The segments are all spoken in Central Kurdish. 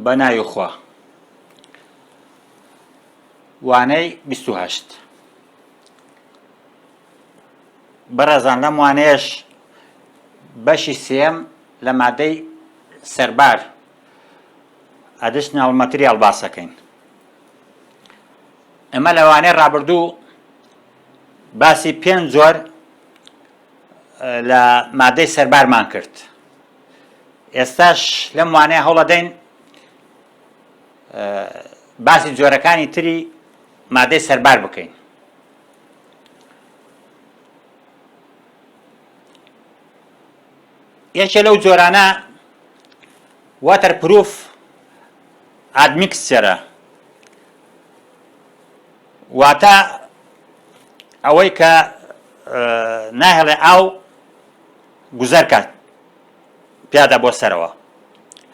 بە ناوی خوا وانەی بیست و هەشت بەڕێزان لەم وانەیەش بەشی سێم لە مادەی سەربار ئەدشناڵ مەتریال باسەکەین ئەمە لەوانەیە ڕابردوو باسی پێنج جۆر لە مادەی سەربارمان کرد ئێستاش لەم وانەیە هەوڵەدەین باسی جۆرەکانی تری مادەی سەربار بکەین یەکێ لەو جۆرانە واتەر پروف ئادمیکسچەرە واتە ئەوەی کە ناهێڵێ ئاو گوزەر کات پیادا بۆ سەرەوە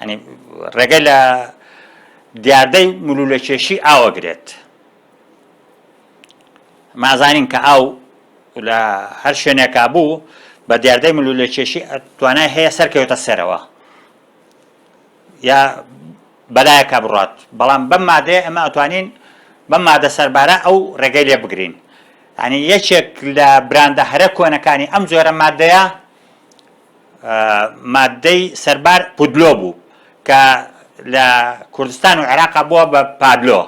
ئەنی ڕێگەی لە دیاردەی ملولە کێشی ئاوە گرێت مازانین کە ئاو لە هەر شوێنێکا بوو بە دیاردەی ملولە کێشی توانای هەیە سەرکەوێتە سەرەوە یا بەلایەکا بڕات بەڵام بەم مادەیە ئەمە ئەتوانین بەم مادە سەربارە ئەو ڕێگەی لێ بگرین ئەنی یەکێک لە براندە هەرە کۆنەکانی ئەم جۆرە مادەیە مادەی سەربار پودلۆ بوو کە لە کوردستان و عێراقا بووە بە پادلۆ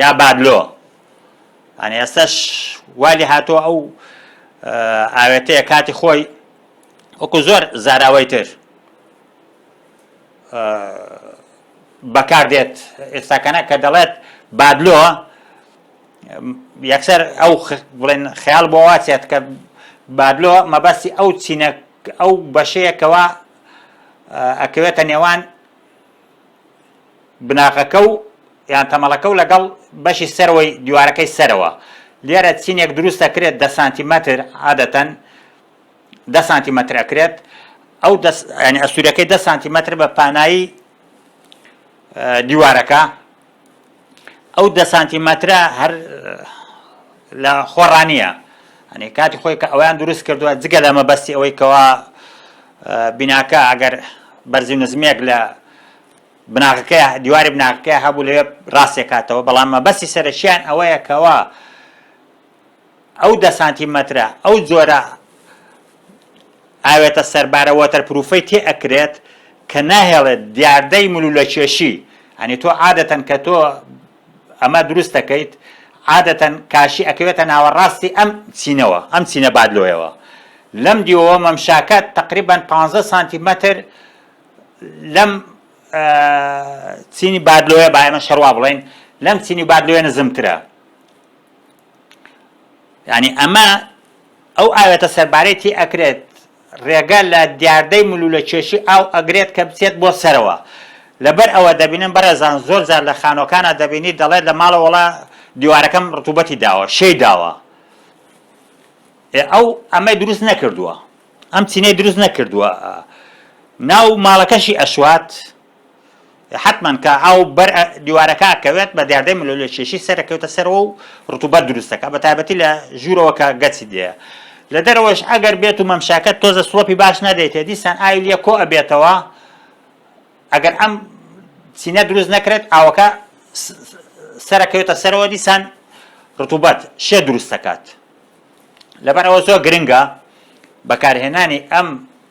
یا بادلۆ ئەنی ئێستش والی هاتۆ ئەو ئاوێتەیە کاتی خۆی وەکو زۆر زاراوەی تر بەکار دێت ئێستاکەە کە دەڵێت بابلۆ یەکسەر ئەو بڵێن خیال بۆ واچێت کە بابلۆ مەبەستی ئەو چینە ئەو بەشەیەکەوە ئەکەوێتە نێوان بناغەکە و یان تەمەڵەکە و لەگەڵ بەشی سەرەوەی دیوارەکەی سەرەوە لێرە چینێک دروست دەکرێت دە سانتیمەتر عادەتەن دە سانتیمەتر ئەکرێت ئەو ینی ئەسوورەکەی دە سانتیمەتر بە پانایی دیوارەکە ئەو دە سانتیمەترە هەر لە خۆڕانیە ئەنی کاتی خۆی کە ئەویان دروست کردووە جگە لە مەبەستی ئەوەی کەوا بیناکە ئەگەر بەرزی نزمێک لە بناغەکە دیواری بناغەکە هەبوو لەوێ ڕاستێکاتەوە بەڵام مەبەستی سەرەکییان ئەوەیە کەوا ئەو دە سانتیمەترە ئەو جۆرە ئاوێتە سەربارە وەتەرپروفەی تێ ئەکرێت کە ناهێڵێت دیاردەی ملولە کێشی ئەنی تۆ عادەتەن کە تۆ ئەمە دروست دەکەیت عادەتەن کاشی ئەکەوێتە ناوەڕاستی ئەم چینەوە ئەم چینە بادلۆیەوە لەم دیوەوە مەمشاکە تقریبان 15 سانتیمەتر لەم چینی بادلۆیە بایمە شەڕوا بڵین لەم چینی بادلۆیە نزمترە یعنی ئەمە ئەو ئاوێتە سەربارەی تی ئەکرێت ڕێگە لە دیاردەی ملو لە کێشی ئاو ئەگرێت کە بچێت بۆ سەرەوە لەبەر ئەوە دەبینن بەڕێزان زۆر جار لە خانۆکانە دەبینی دەڵێت لە ماڵە وڵا دیوارەکەم ڕتوبەتی داوە شەی داوە ئەو ئەمەی دروست نەکردووە ئەم چینەی دروست نەکردووە ناو ماڵەکەشی ئەشوات حەتمەن کە ئاو بەر دیوارەکە ئەکەوێت بە دیاردەی ملۆلێ کێشی سەر ئەکەوێتە سەرەوە و ڕتوبەت دروست دەکات بە تایبەتی لە ژوورەوە کە گەچی دێە لە دەرەوەش ئەگەر بێت و مەمشاکە تۆزە سڵۆپی باش نەدەیتێ دیسان ئاوی لە کۆ ئەبێتەوە ئەگەر ئەم چینە دروست نەکرێت ئاوەکە سەرەکەوێتە سەرەوە دیسان ڕتوبەت شێ دروست دەکات لەبەر ئەوە زۆر گرنگە بەکارهێنانی ئەم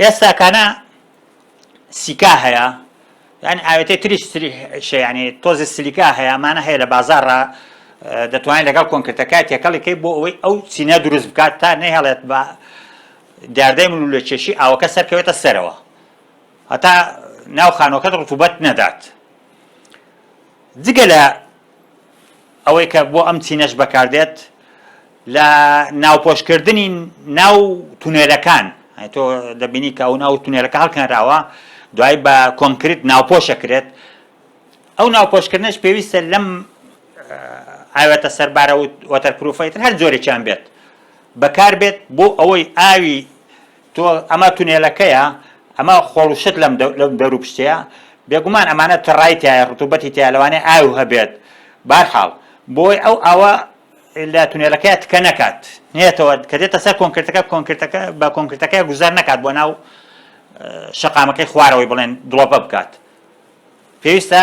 ئێستا کانە سیکا هەیە یان ئاوێتەی تریش شیانی تۆزی سلیکا هەیە ئەمانە هەیە لە بازارڕا دەتوانین لەگەڵ کۆنکرتەکە تێکەڵیکەی بۆ ئەوەی ئەو چینە دروست بکات تا نەهێڵێت بە دیاردەی من لە کێشی ئاوەکە سەرکەوێتە سەرەوە هەتا ناو خانۆکەت ڕتوبەت نەدات جگە لە ئەوەی کە بۆ ئەم چینەش بەکاردێت لە ناوپۆشکردنی ناو تونێلەکان تۆ دەبینی کە ئەو ناو تونێلەکە هەڵکەنراوە دوای بە کۆنکرت ناوپۆشەکرێت ئەو ناوپۆشکردنش پێویستە لەم ئاوێتە سەربارە و وەتەرپروفەیتر هەر جۆرێکیان بێت بەکار بێت بۆ ئەوەی ئاوی تۆ ئەمە تونێلەکەیە؟ ئەمە خۆڵ و شت لەم دەورو پشتەیە؟ بێگومان ئەمانە تڕای تیایە، ڕتوبەتی تیایە، لەوانەیە ئاو هەبێت. بەهەرحاڵ، بۆی ئەو ئاوە لە تونێلەکەیا تکە نەکات، نێتەوە، کە دێتە سەر کۆنکرتەکە، کۆنکرتەکە بە کۆنکرتەکەیا گوزەر نەکات بۆ ناو شەقامەکەی خوارەوەی بڵێن دڵۆپە بکات. پێویستە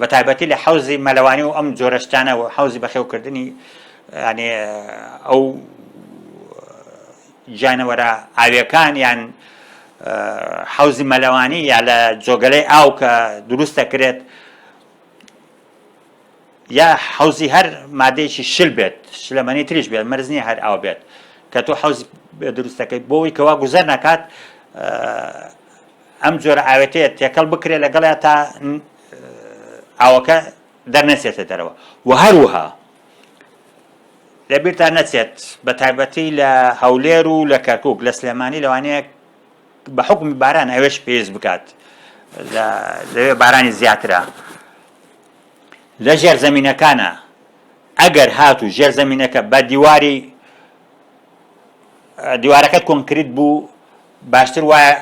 بە تایبەتی لە حەوزی مەلەوانی و ئەم جۆرە شتانە و حەوزی بەخێوکردنی ینی ئەو جانەوەرە ئاوێکان یان حەوزی مەلەوانی یا لە جۆگەلەی ئاو کە دروست دەکرێت یا حەوزی هەر مادەیەکی شل بێت شلەمەنی تریش بێت مەرزنی هەر ئاو بێت کە تۆ حەوز دروستەکەی بۆی کەوا گوزەر نکات ئەم جۆرە ئاوێتەیە تێکەڵ بکرێت لەگەڵیا تا ئاوەکە دەرنەچێتە دەرەوە و هەروها لەبیرتان نەچێت بە تایبەتی لە هەولێر و لە کەرکک لە سلێمانی لەوانەیە بە حکومی باران ئەوێش پێز بکات لەوێ بارانی زیاترە لە ژێر زمینەکانە ئەگەر هات و ژێر زمینەکە بە دیواری دیوارەکەت کۆنکریت بوو باشتر وایە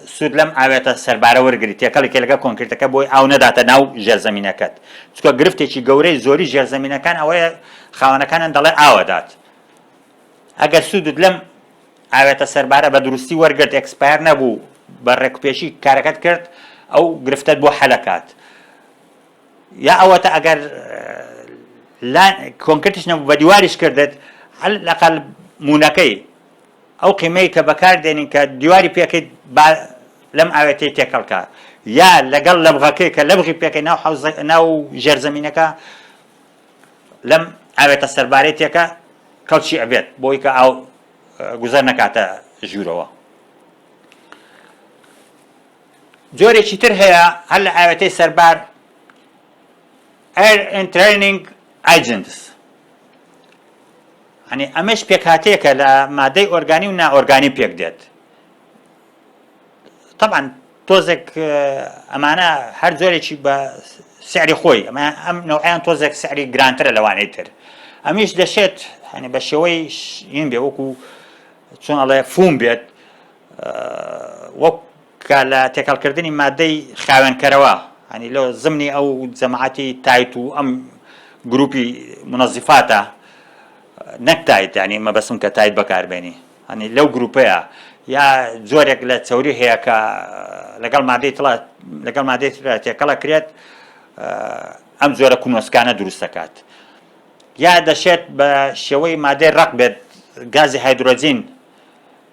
سوود لەم ئاوێتە سەربارە وەرگریت، تێکەڵی کێلگە کۆنکریتەکە بۆی ئاو نەداتە ناو ژێرزەمینەکەت، چونکە گرفتێکی گەورەی زۆری ژێرزەمینەکان ئەوەیە خاوەنەکانیان دەڵێ ئاو ئەدات. ئەگەر سوودت لەم ئاوێتە سەربارە بە دروستی وەرگرت، ئێکسپایەر نەبوو، بە ڕێکوپێکی کارەکەت کرد، ئەو گرفتەت بۆ حەل ئەکات. یا ئەوەتا ئەگەر کۆنکرتیش نەبوو بە دیواریش کردت، عەلەقەڵ مونەکەی، ئەو قیمەی کە بەکار دێنین کە دیواری پێکەیت با لەم ئاوێتەی تێکەڵ کا یا لەگەڵ لەبغەکەی کە لەبغی پێکەی ناو حەوز ناو ژێرزەمینەکە لەم ئاوێتە سەربارەی تێکە کەڵکی ئەبێت بۆی کە ئاو گوزەر نەکاتە ژوورەوە جۆرێکی تر هەیە هەر لە ئاوێتەی سەربار Air Interning Agents ئەنی ئەمەش پێکهاتەیەکە لە مادەی ئۆرگانی و نائۆرگانی پێک دێت طبعا تۆزێک ئەمانە هەر جۆرێکی بە سعری خۆی ئەمە ئەم نەوەیان تۆزێک سعری گرانترە لەوانەی تر ئەمیش دەشێت هەنی بە شێوەی بێ وەکو چۆن ئەڵێ فوم بێت وەک کە لە تێکەڵکردنی مادەی خاوێنکەرەوە هەنی لۆ زمنی ئەو جەماعەتی تایت و ئەم گروپی منەزیفاتە نەک تایت ینی مەبەسم کە تایت بەکاربێنی هەنی لەو گروپەیە یا جۆرێک لە چەوری هەیە کە لەگەڵ مادەی تڵە لەگەڵ مادەی تێکەڵە کرێت ئەم جۆرە کونۆسکانە دروست دەکات یا دەشێت بە شێوەی مادەی ڕق بێت گازی هایدرۆجین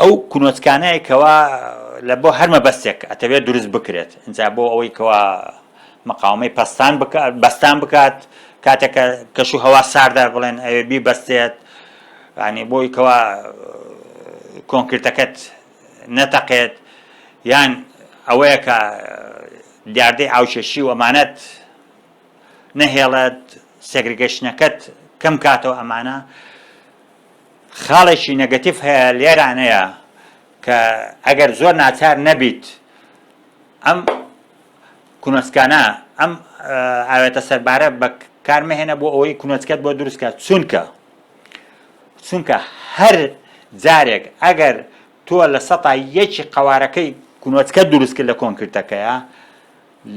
ئەو کونۆتکانەیە کەوا لە بۆ هەر مەبەستێک ئەتەوێت دروست بکرێت ئینجا بۆ ئەوەی کەوا مقاومەی پەستان بەستان بکات کاتێک کەش و هەوا ساردە بڵێن ئەوێ بی بەستێت ینی بۆی کەوا کۆنکرتەکەت نەتەقێت یان ئەوەیە کە دیاردەی ئاوچێشی و ئەمانەت نەهێڵێت سێگرگەشتنەکەت کەم کاتەوە ئەمانە خاڵێکی نەگەتیڤ هەیە لێرانەیە کە ئەگەر زۆر ناچار نەبیت ئەم کونۆچکانە ئەم ئاوێتە سەربارە بە کارمەهێنە بۆ ئەوەی کونۆچکەت بۆ دروستکە چونکە چونکە هەر جارێک ئەگەر تۆ لە سەتا یەکی قوارەکەی کونۆچکە دروست کرد لە کۆنکرتەکەیە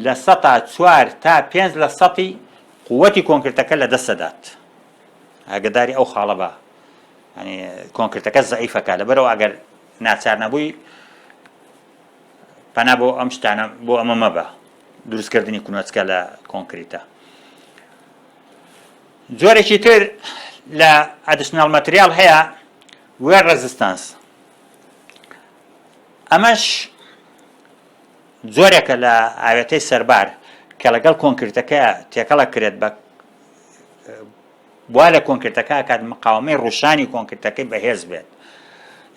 لە سەتا چوار تا پێنج لە سەتی قوتی کۆنکرتەکە لە دەستەدات ئاگەداری ئەو خاڵە بە ینی کۆنکرتەکە زعیفەکە لەبەرەوە ئەگەر ناچار نەبووی پەنا بۆ ئەم شتانە بۆ ئەمە مەبە دروستکردنی کونەچکە لە کۆنکریتە جۆرێکی تر لە ئەدیشنال مەتریال هەیە وێر ڕزستانس ئەمەش جۆرێکە لە ئاوێتەی سەربار کە لەگەڵ کۆنکرتەکە تێکەڵە کرێت بە وا لە کۆنکرتەکە کات مقاومەی ڕوشانی کۆنکرتەکەی بەهێز بێت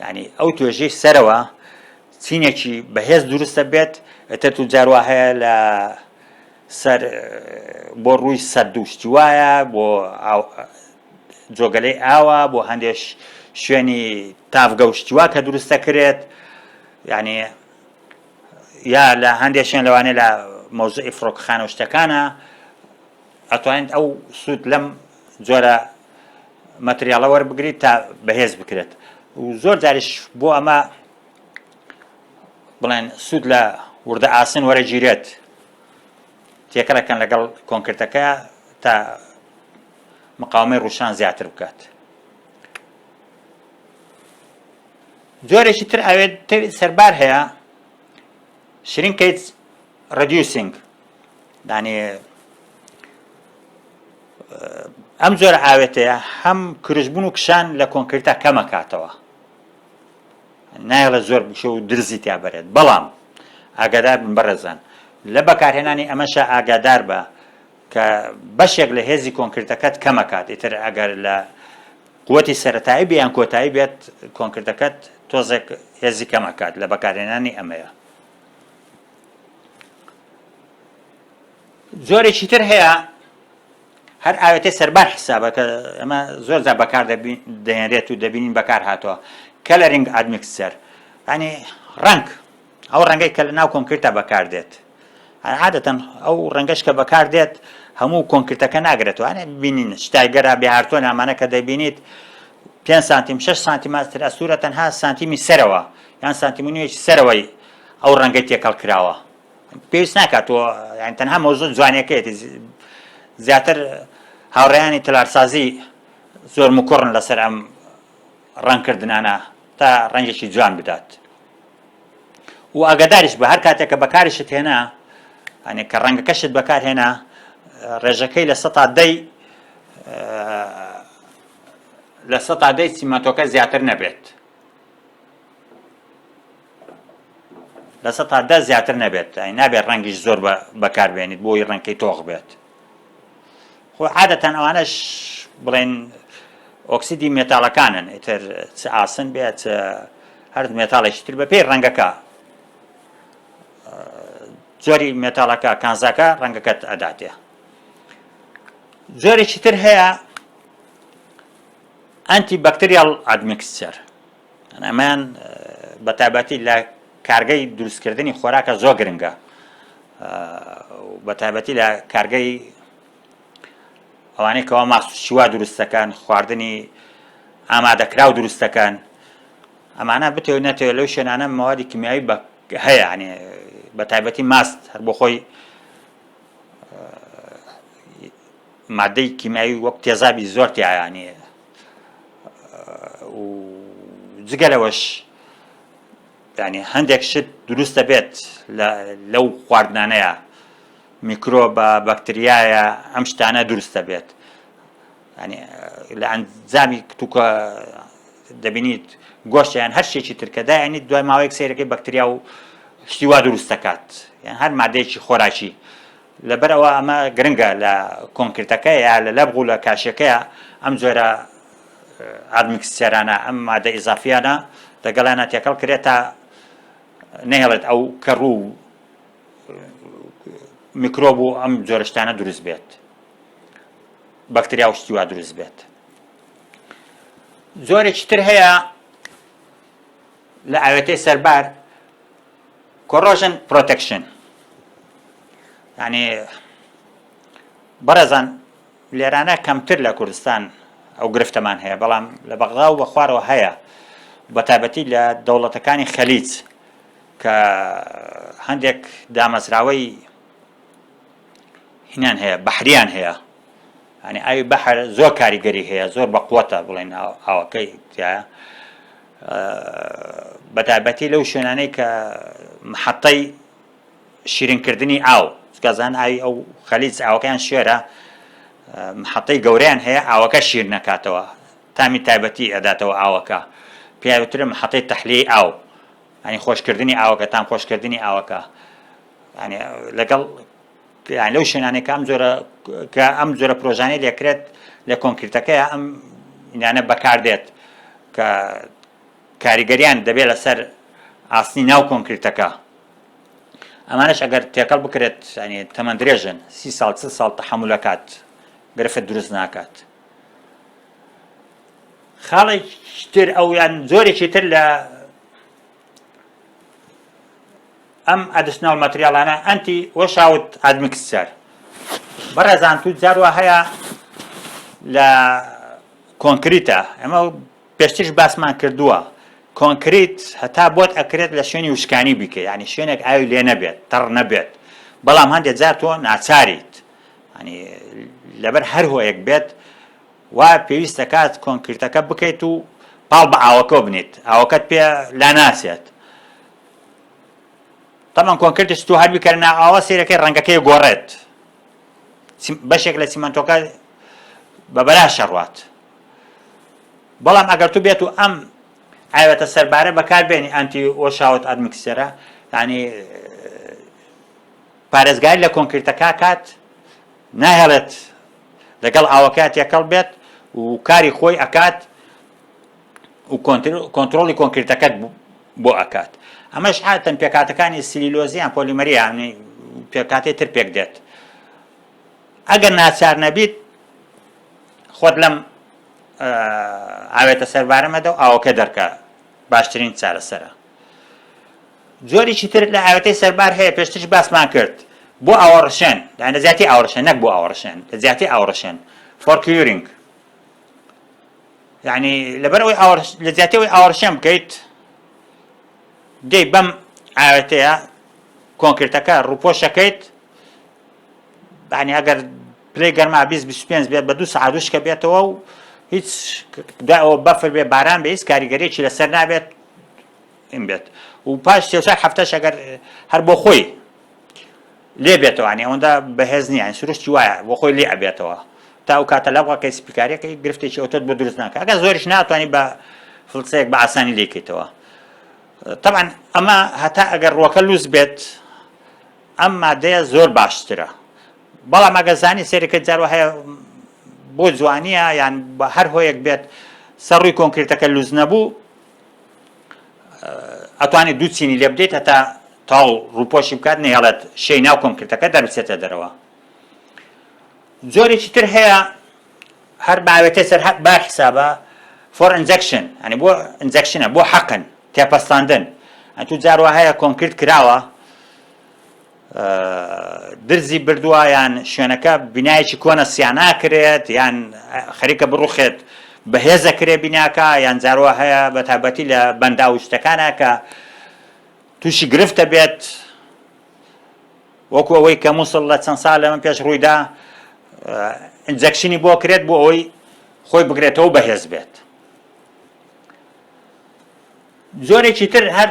ینی ئەو توێژەی سەرەوە چینێکی بەهێز دروستە بێت ئەتە تو جاروا هەیە لە سەر بۆ ڕووی سەر دووشتی وایە بۆ جۆگەلەی ئاوا بۆ هەندێش شوێنی تافگەشتیوا کە دروستە کرێت ینی یا لە هەندێک شوێن لەوانێ لە مۆزە ئیفرۆکخانە شتەکانە ئەتوانیت ئەو سوود لەم جۆرە مەتریاڵە وەربگریت تا بەهێز بکرێت و زۆر جاریش بۆ ئەمە بڵێن سوود لە وردە ئاسن وەرەگیرێت تێکەڵەکەن لەگەڵ کۆنکرتەکە تا مقاومەی ڕوشان زیاتر بکات جۆرێکی تر ئاوێت سەربار هەیە شرین کەیت Reducing دانێ ئەم جۆرە ئاوێتەیە هەم کرژبوون و کشان لە کۆنکرتا کەمەکاتەوە نایڵە زۆر بشە و درزی تیا بەرێت بەڵام ئاگادار بن بەڕێزان لە بەکارهێنانی ئەمەشە ئاگادار بە کە بەشێک لە هێزی کۆنکرتەکەت کەمەکات ئیتر ئەگەر لە قوتی سەتایی بیان کۆتایی بێت کۆنکردەکەت تۆزێک هێزی کەمەکات لە بەکارهێنانی ئەمەیە جۆرێکی تر هەیە هەر ئاوێتە سەربار حسابە کە ئەمە زۆر جا بەکار دەهێنرێت و دەبینین بەکار هاتووە کەلەرنگ ئادمیکسەر ینی ڕنگ ئەو ڕەنگەی کە لە ناو کۆنکرتا بەکار دێت عادەتەن ئەو ڕەنگەش کە بەکار دێت هەموو کۆنکرتەکە ناگرێتوانێ ببینین شتایگەرا بێهارتۆ نامانە کە دەبینیت 5 سانتیم 6 سانتیماتر ئەسوورە تەنها سانتیمی سەرەوە یان سانتیمونیەکی سەرەوەی ئەو ڕەنگەی تێکەڵ کراوە پێویست ناکات تۆ یان تەنها مۆزۆ جوانەکەیەتی زیاتر هاوڕێیانی تەلارسازی زۆر مکوڕن لەسەر ئەم ڕەنکردنانە تا ڕەنگێکی جوان بدات و ئاگاداریش بە هەر کاتێک کە بەکاریشت هێنا ئەنێ کە ڕەنگەکەشت بەکارهێنا ڕێژەکەی لە سە تا دەی لە سە تا دەی سیمەتۆکە زیاتر نەبێت لە سە تا دە زیاتر نەبێت ئەی نابێت ڕەنگیش زۆر بەکاربێنیت بۆی ڕەنکەی تۆخ بێت خۆ عادەتەن ئەوانش بڵێن ئۆکسیدی مێتالەکانن ئیتر چ ئاسن بێت هەر مێتالێکی تر بە پێی ڕەنگەکە جۆری مێتالەکە کانزاکە ڕەنگەکەت ئەداتێ جۆرێکی تر هەیە ئەنتی بەکتریاڵ ئادمیکسچەر ئەمەیان بە تایبەتی لە کارگەی دروستکردنی خۆراکە زۆر گرنگە بە تایبەتی لە کارگەی ئەوانەی کەوا ماست شیوا دروستەکان خواردنی ئامادەکراو دروستەکان ئەمانە بتێ نەتەوە لەو شوێنانە مەوادی کمیایی بە هەیە عنێ بە تایبەتی ماست هەر بۆ خۆی مادەی کیمیاوی وەک تێزابی زۆر تیایا نیە و جگە لەوەش ینی هەندێک شت دروست دەبێت لەو خواردنانەیە میکرۆ بە بەکتریایە ئەم شتانە دروست دەبێت ینی لە ئەنجامی کتوکە دەبینیت گۆشتیان هەر شتێکی ترکەدا ینی دوای ماوەیەک سیرەکەی بەکتریا و شتیوا دروست دەکات یان هەر مادەیەکی خۆراکی لەبەر ئەوە ئەمە گرنگە لە کۆنکرتەکە یا لە لەبغ و لە کاشیەکەیە ئەم جۆرە ئادمیکسچێرانە ئەم مادە ئیزافیانە لەگەڵیانە تێکەڵ کرێت تا نەهێڵێت ئەو کەڕ و میکرۆب و ئەم جۆرەشتانە دروست بێت بەکتریا و شتیوا دروست بێت زۆرێکی تر هەیە لە ئاوێتەی سەربار کۆڕۆژن پرۆتەکشن یعنی بەڕێزان لێرانە کەمتر لە کوردستان ئەو گرفتەمان هەیە بەڵام لە بەغدا و بەخوارەوە هەیە بە تایبەتی لە دەوڵەتەکانی خەلیج کە هەندێک دامەزراوەی هینان هەیە بەحریان هەیە ئەنی ئاوی بەحر زۆر کاریگەری هەیە زۆر بە قوتە بڵێن ئاوەکەی تایە بەتایبەتی لەو شوێنانەی کە محەتەی شیرینکردنی ئاو سکازان ئاوی ئەو خەلیج ئاوەکەیان شێرە محەتەی گەوریان هەیە ئاوەکە شیر نەکاتەوە تامی تایبەتی ئەداتەوە ئاوەکە پیاوترە محەتەی تەحلیەی ئاو ئەنی خۆشکردنی ئاوەکە تام خۆشکردنی ئاوەکە لەگەڵ یان لەو شوێنانێک کە ئەم جۆرە کە ئەم جۆرە پرۆژانەی لێکرێت لە کۆنکرتەکەی ئەم یانە بەکاردێت کە کاریگەریان دەبێت لەسەر ئاسنی ناو کۆنکرتەکە ئەمانش ئەگەر تێکەڵ بکرێت ینی تەمەند درێژن سی ساڵ چ ساڵ تەحملەکات گرفت دروست ناکات خاڵێکتر ئەو یان زۆرێکی تر لە ئەم ئەدشناڵ مەتریاڵانە ئەنتی وەشاوت ئادمکسچەر بەڕێزان تو جاروا هەیە لە کۆنکریتە ئەمە پێشتش باسمان کردووە کۆنکریت هەتا بۆت ئەکرێت لە شوێنی وشکانی بیکە ینی شوێنێک ئاوی لێ نەبێت تەڕ نەبێت بەڵام هەندێک جار تۆ ناچاریت ینی لەبەر هەر هۆیەک بێت وا پێویست دەکات کۆنکرتەکە بکەیت و پاڵ بە ئاوەکەوە بنێیت، ئاوەکەت پێ لاناچێت. تەبعەن کۆنکرتی ستوو هەر بیکەرە ناو ئاوە سەیرەکەی ڕەنگەکەی گۆڕێت، بەشێک لە سیمەنتۆکە بە بەلاش ئەڕوات. بەڵام ئەگەر تو بێت و ئەم ئاوێتە سەربارە بەکاربێنی ئەنتی وەشاوت ئەدمکسێرە یعنی پارێزگاری لە کۆنکرتەکە کات ناهێڵێت لەگەڵ ئاوەکە تێکەڵ بێت و کاری خۆی ئەکات و کۆنتترۆلی کۆنکرتەکەت بۆ ئەکات ئەمەش ئاتەن پێکاتەکانی سلیلۆزیان پۆلیمەریانی پێکاتی تر پێک دێت ئەگەر ناچار نەبیت خۆت لەم ئاوێتە سەربارەمەدە و ئاوەکە دەرکە باشترین چارەسەرە جۆرێکی تر لە ئاوێتەی سەربار هەیە پێشترش باسمان کرد بۆ ئاوەڕشێن یان لە جیاتی ئاوەڕشێن نەک بۆ ئاوەڕشێن لە جیاتی ئاوەڕشێن فۆر کیورینگ یعنی لەبەر ئەوەی لە جیاتی ئەوەی ئاوەڕشێن بکەیت دەی بەم ئاوێتەیە کۆنکرێتەکە ڕوپۆشەکەیت بەانی ئەگەر پلی گەرما 25 بێت بە دو سعادوشکە بێتەوە و هیچ داەوە بەفر بێ باران بە هیچ کاریگەرێکی لەسەر نابێت یم بێت و پاش سێ چار هەفتەش ئەگەر هەر بۆ خۆی لێ بێتەوەوانی ئەوەندا بەهێز نییان سروشتی وایە بۆ خۆی لێ ئەبێتەوە تا و کاتە لە بڵکەی سپیکارەکەی گرفتێکی ئەوتۆت بۆ دروست ناکە ئەگە زۆریش ناتوانانی بە فلسەیەک بە ئاسانی لێکەیتەوە طبعا ئەمە هەتا ئەگەر ڕۆکە لوس بێت ئەم مادەیە زۆر باشترە بەڵام ئەگە زانی سێرەکە جارو هەیە بۆ جوانیە یان بە هەر هۆیەک بێت سەر ڕووی کۆنکرێتەکە لوز نەبوو ئەتوانێت دوو چینی لێ بدەیت هەتا تاو ڕووپۆشی بکات نەیەڵێت شەی ناو کۆنکرتەکە دەربچێتە دەرەوە جۆرێکی تر هەیە هەر باوێتە سەر با حسابە فۆر ئەنجەکشن ئەنی بۆ ئەنجەکشنە بۆ حەقن تێپەستاندن ئەتو جاروە هەیە کۆنکرت کراوە درزی بردوە یان شوێنەکە بینایەکی کۆنە سیاناکرێت یان خەریکە بڕوخێت بەهێزە کرێ بیناکە یان جاروا هەیە بە تابەتی لە بەندا و شتەکانە کە تووشی گرفتە بێت وەکو ئەوەی کە مووسڵ لە چەند سال لە من پێش ڕوویدا ئەنجەکشنی بۆ کرێت بۆ ئەوەی خۆی بگرێتەوە بەهێز بێت جۆرێکی تر هەر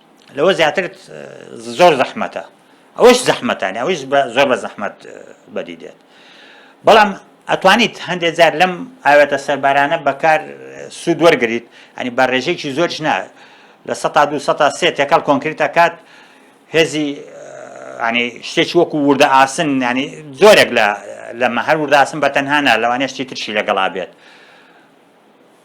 لەوە زیاتر زۆر زەحمەتە ئەوش زەحمەتانی ئەوش زۆر بە زەحمەت بەدی دێت بەڵام ئەتوانیت هەندێک جار لەم ئاوێتە سەربارانە بەکار سوود وەرگیت ئەنی بە ڕێژێکی زۆرش نا لە سە دو سە سێ تێکەڵ کۆنکریتە کات هێزی ینی شتێکی وەکو وردە ئاسن ینی زۆرێک لە لەمە هەر ورداسن بە تەنهانا لەوانێشتی ترشی لەگەڵا بێت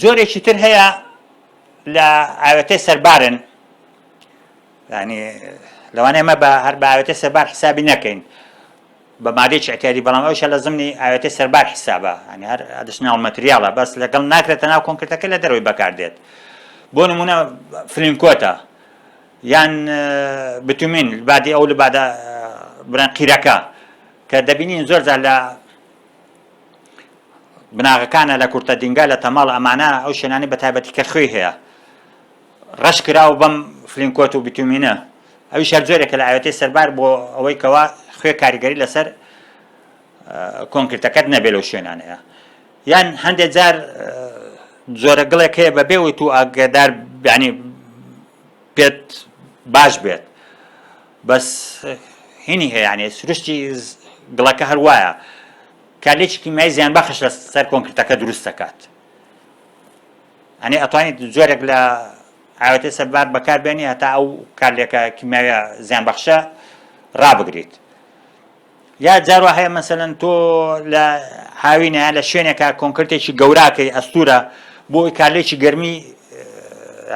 جۆرێکی تر هەیە لە ئاوێتەی سەربارن ینی لەوانەیە مە بە هەر باوێتە سەربار حسابی نەکەین بە مادێکی ئەتیادی بەڵام ئەوشە لە زمنی ئاوێتە سەربار حسابە ئەنی هەر ئەدشناڵ مەتریاڵە بەس لەگەڵ ناکرێتە ناو کۆنکرتەکە لە دەروی بەکاردێت بۆ نمونە فلینکۆتە یان بتومین بادی ئەو لە بادە بران قیرەکە کە دەبینین زۆر زار لە بناغەکانە لە کورتە دینگا لە تەماڵ ئەمانە ئەو شوێنانی بە تایبەتی کە خوێ هەیە ڕەش کراو بەم فلینکۆت و بتومینە ئەوی شار جۆرێکە لە ئاوێتی سەربار بۆ ئەوەی کەوا خوێ کاریگەری لەسەر کۆنکرتەکەت نەبێ لەو شوێنانەیە یان هەندێک جار جۆرە گڵێک هەیە بە بێەوەی تو ئاگدار بیانی پێت باش بێت بەس هینی هەیە یانێ سروشتی گڵەکە هەر وایە کە لێکی کیمیایی زیانبەخش لە سەر کۆنکرتەکە دروست دەکات ئەنێ ئەتوانیت جۆرێک لە ئاوەتێ سەربار بەکاربێنی هەتا ئەو کارلێکە کیمیاویە زیانبەخشە ڕابگریت یا جاروا هەیە مەسەن تۆ لە هاوینە لە شوێنێکە کۆنکرتێکی گەوراکەی ئەستورە بۆ کارلێکی گەرمی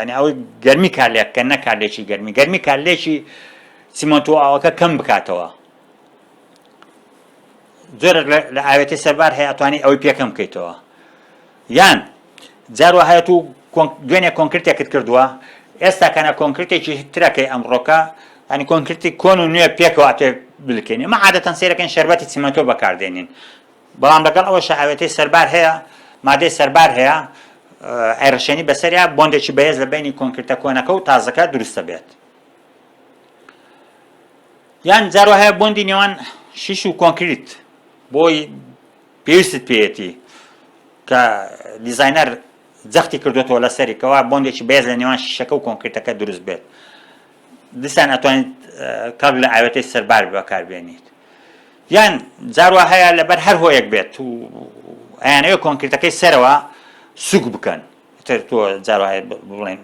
ینی ئەوەی گەرمی کارلێک کە نە کارلێکی گەرمی گەرمی کارلێکی سیمەنتۆ ئاوەکە کەم بکاتەوە زۆر لە ئاوێتی سەربار هەیە توانی ئەوەی پێکەم بکەیتەوە یان جار وا هەیە تو دوێنێ کۆنکرتێکت کردووە ئێستا کەنە کۆنکرتێکی ترە کەی ئەمڕۆکە ینی کۆنکرتی کۆن و نوێ پێکەوە ئەتوێ بلکێنی ئەمە عادەتەن سەیرەکەین شەربەتی چیمەنتۆ بەکار دێنین بەڵام لەگەڵ ئەوەشە ئاوێتەی سەربار هەیە مادەی سەربار هەیە ئەیڕشێنی بەسەریا بۆندێکی بەهێز لە بینی کۆنکرتە کۆنەکە و تازەکە دروستە بێت یان جارۆ هەیە بۆندی نێوان شیش و کۆنکریت بۆی پێویستت پێیەتی کە دیزاینەر جەختی کردوێتەوە لەسەری کەوا بۆندێکی بێز لە نێوان شیشەکە و کۆنکرتەکە دروست بێت دیسان ئەتوانیت کاگ لە ئاوێتەی سەربار بەکاربێنیت یان جاروا هەیە لەبەر هەر هۆیەک بێت و ئەیانەوە کۆنکرتەکەی سەرەوە سوک بکەن تر تۆ جاروا بڵێن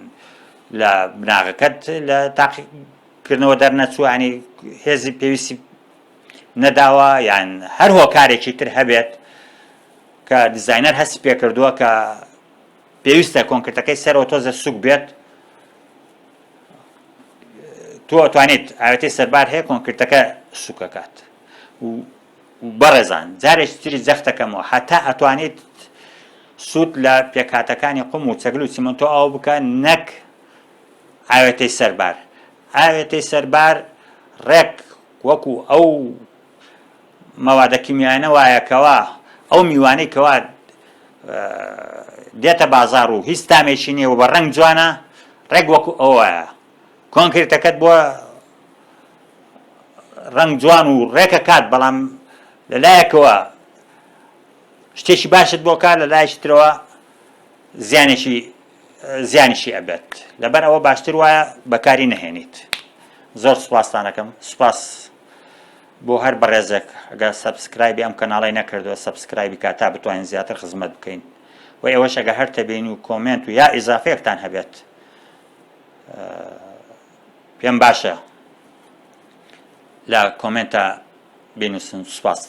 لە بناغەکەت لە تاقیکردنەوە دەرنەچووانی هێزی پێویستی نەداوە یان هەر هۆکارێکی تر هەبێت کە دیزاینەر هەستی پێکردووە کە پێویستە کۆنکرتەکەی سەرەوە تۆزە سوک بێت تۆ ئەتوانیت ئاوێتی سەربار هەیە کۆنکرتەکە سوکەکات بەڕێزان جارێک تری جەختەکەمەوە هەتا ئەتوانیت سوود لە پێکاتەکانی قوم و چەگل و سیمنتۆ ئاو بکە نەک ئاوێتەی سەربار ئاوێتەی سەربار ڕێک وەکو ئەو مەوادە کیمیایانە وایە کەوا ئەو میوانەی کەوا دێتە بازار و هیچ تامێکی نیە و بە ڕەنگ جوانە ڕێک وەکو ئەوە کۆنکرێتەکەت بۆ ڕنگ جوان و ڕێکە کات بەڵام لەلایەکەوە شتێکی باشت بۆکار لە لایشترەوە زیانێکی زیانیشی ئەبێت لەبەر ئەوە باشتر وایە بەکاری نەهێنیت زۆر سوپاستانەکەم سوپاس بۆ هەر بەڕێزێک ئەگە سەبسکرایبی ئەم کەناڵی نەکردووە سەبسکرایبی کا تا بتوانین زیاتر خزمەت بکەین و ئێوەش ئەگە هەر تەبین و کۆمنت و یا ئیزافەیەکتان هەبێت پێم باشە لە کۆمنتە بینوسن سوپاست